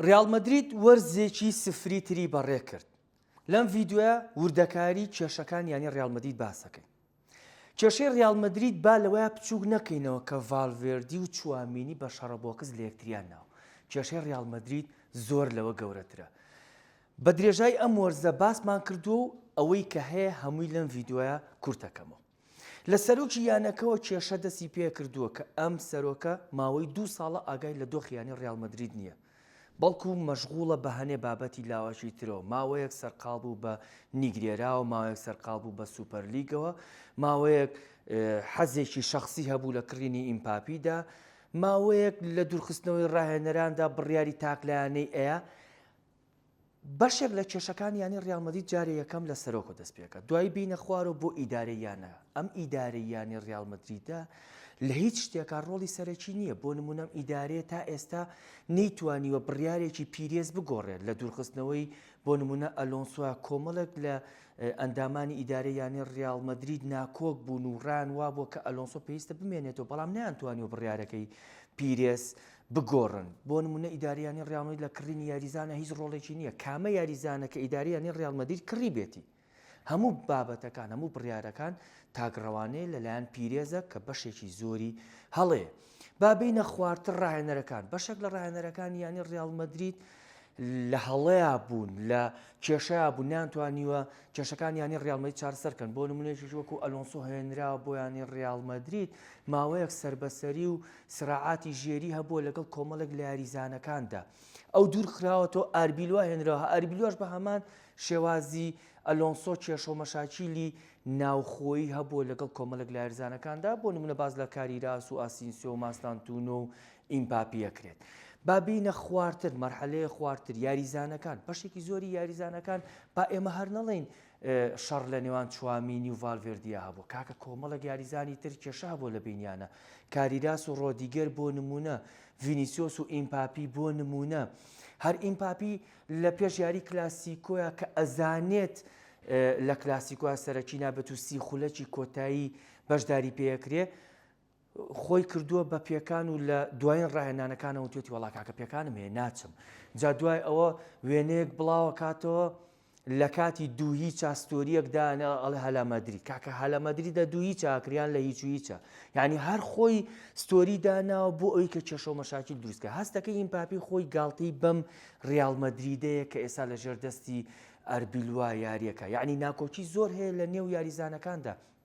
ریال مەدرید وەرزێکی سفری تری بەڕێکرد، لەم ڤیدیۆیە وردەکاری کێشەکانی یانەی ریال مەدرید باس دەکەین. کێشەی ریال مەدرید با لەوەیا بچووک نەکەینەوە کە ڤالڤێردی و چوامینی بە شەڕە بۆکس لە یەکتریان ناوە. کێشەی ریال مەدرید زۆر لەوە گەورەترە. بە درێژای ئەم وەرزە باسمان کردووە و ئەوەی کە هەیە هەمووی لەم ڤیدیۆیە کورتەکەمەوە. لە سەرۆکی یانەکەوە کێشە دەستی پێکردووە کە ئەم سەرۆکە ماوەی دوو ساڵە ئاگای لە دۆخی یانەی ڕیاڵ مەدرید نییە، بەڵکو مەشغوڵە بە هەنێ بابەتی لاوەکی ترەوە، ماوەیەک سەرقاڵ بوو بە نیگرێراوە، ماوەیەک سەرقاڵ بوو بە سوپەرلیگەوە، ماوەیەک حەزێکی شەخسی هەبوو لە کڕینی ئیمپاپیدا، ماوەیەک لە دوورخستنەوەی ڕاهێنەراندا بڕیاری تاکلایەنەی ئەیا، بەشێک لە کێشەکانی یانەی ریال مەدرید جارێ یەکەم لە سەرۆکەوە دەست پێکات دوایی بینە خوارەوە بۆ ئیدارەی یانە ئەم ئیدارەی یانەی ریال مەدریدە لە هیچ شتێکا ڕۆڵی سەرەکی نییە بۆ نمونەم ئیدارەیە تا ئێستا نەیتوانیوە بڕیارێکی پیرێز بگۆڕێت لە دوورخستنەوەی بۆ نمونە ئەلۆنسوا کۆمەڵێک لە ئەندامانی ئیدارە یانەی ریال مەدرید ناکۆک بوون و ڕان وابووە کە ئەلۆنسۆ پێویستە بمێنێتەوە بەڵام نیان توانیوە بڕارەکەی پیرێس بگۆڕن، بۆ نموونە ئیدارەیانی ڕیاڵ مەدرید لە کڕینی یاریزانە هیچ ڕۆڵێکی نییە، کامە یاریزانە کە ئیدارەیانی ڕیاڵ مەدرید کڕیبێتی، هەموو بابەتەکان، هەموو بڕیارەکان تاکڕەوانەیە لەلایەن پیرێزە کە بەشێکی زۆری هەڵەیە. با بێینە خوارتر ڕاهێنەرەکان، بەشێک لە ڕاهێنەرەکانی یانەی ڕیاڵ مەدرید لە هەڵەیا بوون، لە کێشەیا بوون، نەیانتوانیوە کێشەکان یانەی ڕیاڵ مەدرید چارەسەر بکەن، بۆ نموونەیەکیش وەکو ئەلۆنسۆ هێنراوە بۆ یانەی ڕیاڵ مەدرید، ماوەیەک سەربەسەری و سراعاتی ژێری هەبووە لەگەڵ کۆمەڵێک لە یاریزانەکاندا ئەو دوورخراوەتەوە ئاربیلوا هێنراوە ئاربیلواش بە هەمان شێوازی ئەلۆنسۆ کێشۆ مەشاکیلی ناوخۆی هەبووە لەگەڵ کۆمەڵێک لە یاریزانەکاندا بۆ نمونە باز لە کاری راس و ئاسینسیۆ و ماستانتونۆ و ئیمپاپیەکرێت بابینە خوارتر مەرحەلەیە خوارتر یاریزانەکان بەشێکی زۆری یاریزانەکان با ئێمە هەر نەڵین شەڕ لە نێوان چوامینی و ڤالڤێردیا هەبوو کاکە کۆمەڵێک یاریزانی تر کێشە هەبوو لە بینیانە کاریراس و ڕۆدیگەر بۆ نمونە ڤینیسیۆس و ئیمپاپی بۆ نمونە هەر ئیمپاپی لە پێش یاری کلاسیکۆیە کە ئەزانێت لە کلاسیکۆە سەرەکی نابێت و سی خولەکی کۆتایی بەشداری پێکرێ خۆی کردووە بە پێکان و لە دوایین ڕاهێنانەکانەوە توێتی وەڵا کاکە پێکانم هەیە ناچم جا دوای ئەوە وێنەیەک بڵاوە کاتەوە لە کاتی دووهی چاستۆریەکدانە ئەڵ هەلامەدری کاکە هەلامەدری دە دووهی چاکریان لە هیچ هیچە یعنی هەر خۆی ستۆری داناوە بۆ ئەوی کە کێشە و مەشاکی دروستکە هەستەکە ئیمپاپی خۆی گاڵتەی بەم ریالمەدریدەیە کە ئێستا لە ژێر دەستی ئەربیلوا یاریەکە یعنی ناکۆکی زۆر هەیە لە نێو یاریزانەکاندا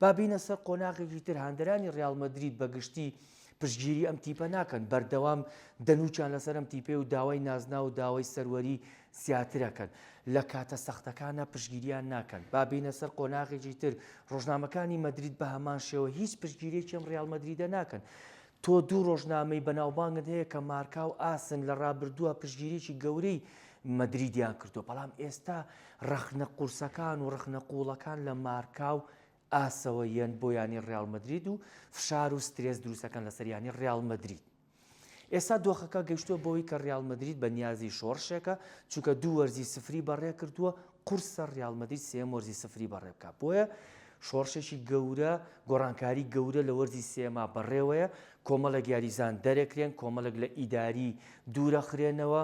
با بینە سەر قۆناغێکی تر هاندەرانی ڕیال مەدرید بە گشتی پشگیری ئەم تیپە ناکەن بەردەوام دەنوچان لەسەر ئەم تیپێ و داوای نازنا و داوای سەروەری زیاترەکەن لە کاتە سەختەکانە پشگیریان ناکەن با بینە سەر قۆناغێکی تر ڕۆژنامەکانی مەدرید بە هەمان شێوە هیچ پشگیرێکی ئەم ڕیال مەدریدە ناکەن تۆ دوو رۆژنامەی بەناوبانگت هەیە کە مارکا و ئاسن لە رابردووە پشتگیریی گەورەی مەدریدیان کردووە، بەڵام ئێستا رەخنە قورسەکان و رەخنە قووڵەکان لە مارکا و ئاسەوە یەن بۆ یانەی ریال مەدرید و فشار و سترێس دروستەکەن لەسەر یانەی ریال مەدرید. ئێستا دۆخەکە گەیشتووە بەوەی کە ریال مەدرید بە نیازی شۆڕشێکە، چونکە دوو وەرزی سفری بەڕێکردووە، قورسە ریال مەدرید سێیەم وەرزی سفری بەڕێ بکات، بۆیە شۆڕشێکی گەورە، گۆڕانکاری گەورە لە وەرزی سێیەما بەڕێوەیە، کۆمەڵێک یاریزان دەرەکرێن، کۆمەڵێک لە ئیداری دوورەخرێنەوە،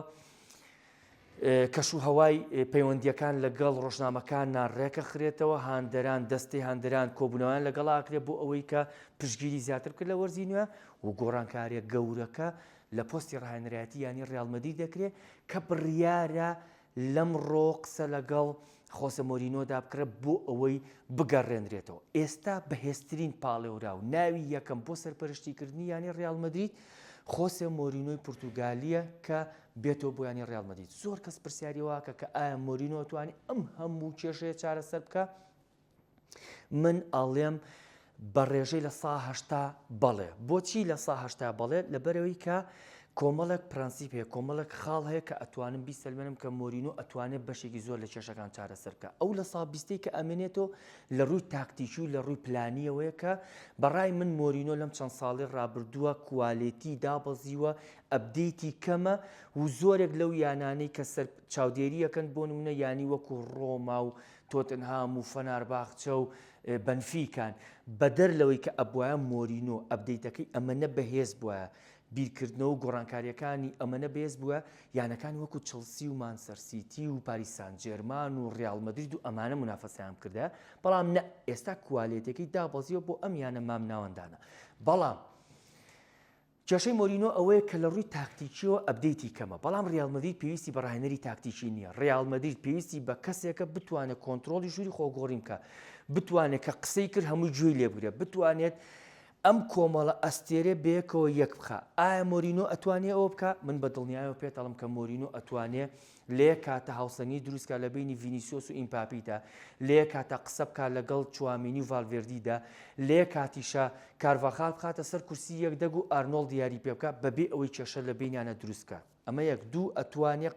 کەش و هەوای پەیوەندیەکان لەگەڵ ڕۆژنامەکاننا ڕێکەخرێتەوە، هاندەران دەستی هاندەران کۆبوونەوەیان لەگەڵ ئاکرێت بۆ ئەوەی کە پشگیری زیاتر بکە لە وەرزی نوێ و گۆڕانکاریە گەورەکە لە پۆستی ڕاهێنەرایەتی یانی ڕیال مەدرید دەکرێت کە بڕیارە لەمڕۆ قسە لەگەڵ خۆسە مۆرینۆدا بکڕە بۆ ئەوەی بگەڕێنرێتەوە، ئێستا بەهێزترین پاڵێوراو، ناوی یەکەم بۆ سەرپەرشتیکردنی یانەی ڕیاڵ مەدرید، خۆسێ مۆرینۆی پورتوگالییە کە بێتەوە بۆ یانەی ڕیاڵ مەدرید، زۆر کەس پرسیاری ئەوە ئەکا کە ئایا مۆرینۆ ئەتوانێ ئەم هەموو کێشەیە چارەسەر بکا؟ من ئەڵێم بە ڕێژەی لە سا هەشتا بەڵێ بۆچی لە سا هەشتا بەڵێت لە بەرەوەی کە کۆمەڵک پرەنسیپ هەیە کۆمەڵک خاڵ هەیە کە ئەتوانم بیسەلمێنم کە مۆرین و ئەتوانێت بەشێکی زۆر لە کێشەکان چارەسەرکە ئەو لە سابیستی کە ئەمێنێتەوە لە ڕووی تاکتیکی و لە ڕووی پلانیەوەیە کە بەڕای من مۆرینۆ لەم چەند ساڵی ڕابردووە کوالێتی دابەزیوە ئەبدەیتی کەمە و زۆرێک لەو یانانەی کە سەر چاودێریەکەن بۆ نمونە ینی وەکو ڕۆما و تۆتنهام و فەنارباخچە و بەنفیکان، بەدەر لەوەی کە ئەبوایە مۆرینۆ ئەپدەیتەکەی ئەمەنە بەهێز بوایە، بیرکردنەوە و گۆڕانکارییەکانی ئەمەنە بەهێز بوایە، یانەکانی وەکو چڵسی و مانچستەر سیتی و پاریس سانجێرمان و ریال مەدرید و ئەمانە مونافەسەیان بکردایە، بەڵام نا، ئێستا کوالێتیەکەی دابەزیوە بۆ ئەم یانە مامناوەندانە، بەڵام. کێشەی مۆرینۆ ئەوەیە کە لە ڕووی تاکتیکییەوە ئەپدەیتی کەمە، بەڵام ڕیال مەدرید پێویستی بە ڕاهێنەری تاکتیکی نییە، ڕیال مەدرید پێویستی بە کەسێکە بتوانێت کۆنترۆڵی ژووری خۆگۆڕین بکات، بتوانێت کە قسەی کرد هەمووی گوێی لێ بگرێت، بتوانێت ئەم کۆمەڵە ئەستێرەیە بەیەکەوە یەک بخات. ئایا مۆرینۆ ئەتوانێت ئەوە بکات؟ من بە دڵنیایەوە پێت ئەڵێم کە مۆرینۆ ئەتوانێت. لەیەک کاتدا هاوسەنگی دروستکات لە بەینی ڤینیسیۆس و ئیمپاپیدا، لەیەک کاتدا قسەبکات لەگەڵ چوامینی و ڤالڤێردیدا، لەیەک کاتیشا کارڤاخال بخاتە سەر کورسی یەک دەگ و ئارنۆڵد یاری پێبکات بەبێ ئەوەی کێشە لە بەینیانە دروستکات ئەمە یەک دوو ئەتوانێق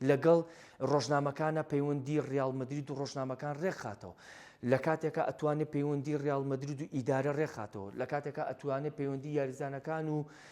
لەگەڵ رۆژنامەکانا پەیوەندی ریال مەدرید و رۆژنامەکان رێکخاتەوە لەکاتێکا ئەتوانێ پەیوەندی ریال مەدرید و ئیدارە رێکخاتەوە لەکاتێکا ئەتوانێ پەیوەندی یاریزانەکان و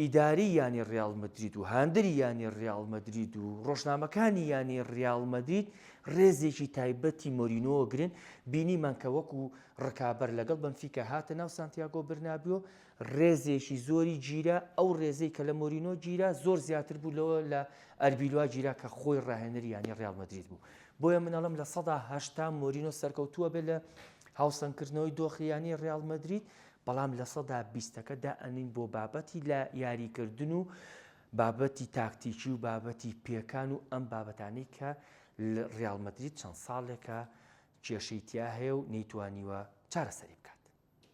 ئیداری یانەی ریال مەدرید و هاندەری یانەی ریال مەدرید و رۆژنامەکانی یانەی ریال مەدرید رێزێکی تایبەتی مۆرینۆ گرن، بینیمان کە وەکو رکابەر لەگەڵ بەنفیکا هاتە ناو سانتیاگۆ برنابیۆ رێزێکی زۆری گیرا، ئەو رێزەی کە لە مۆرینۆ گیرا زۆر زیاتر بوو لەوە لە ئەربیلوا گیرا کە خۆی راهێنەری یانەی ریال مەدرید بوو، بۆیە من ئەڵێم لە سەدا هەشتا مۆرینۆ سەرکەوتووە بێت لە هاوسەنگکردنەوەی دۆخی یانەی ریال مەدرید، بەڵام لە سەدا بیستەکە دائەنین بۆ بابەتی لە یاریکردن و بابەتی تاکتیکی و بابەتی پێکان و ئەم بابەتانەی کە ڕیاڵ مەدرید چەند ساڵێکە کێشەی تیا هەیە و نەیتوانیوە چارەسەری بکات.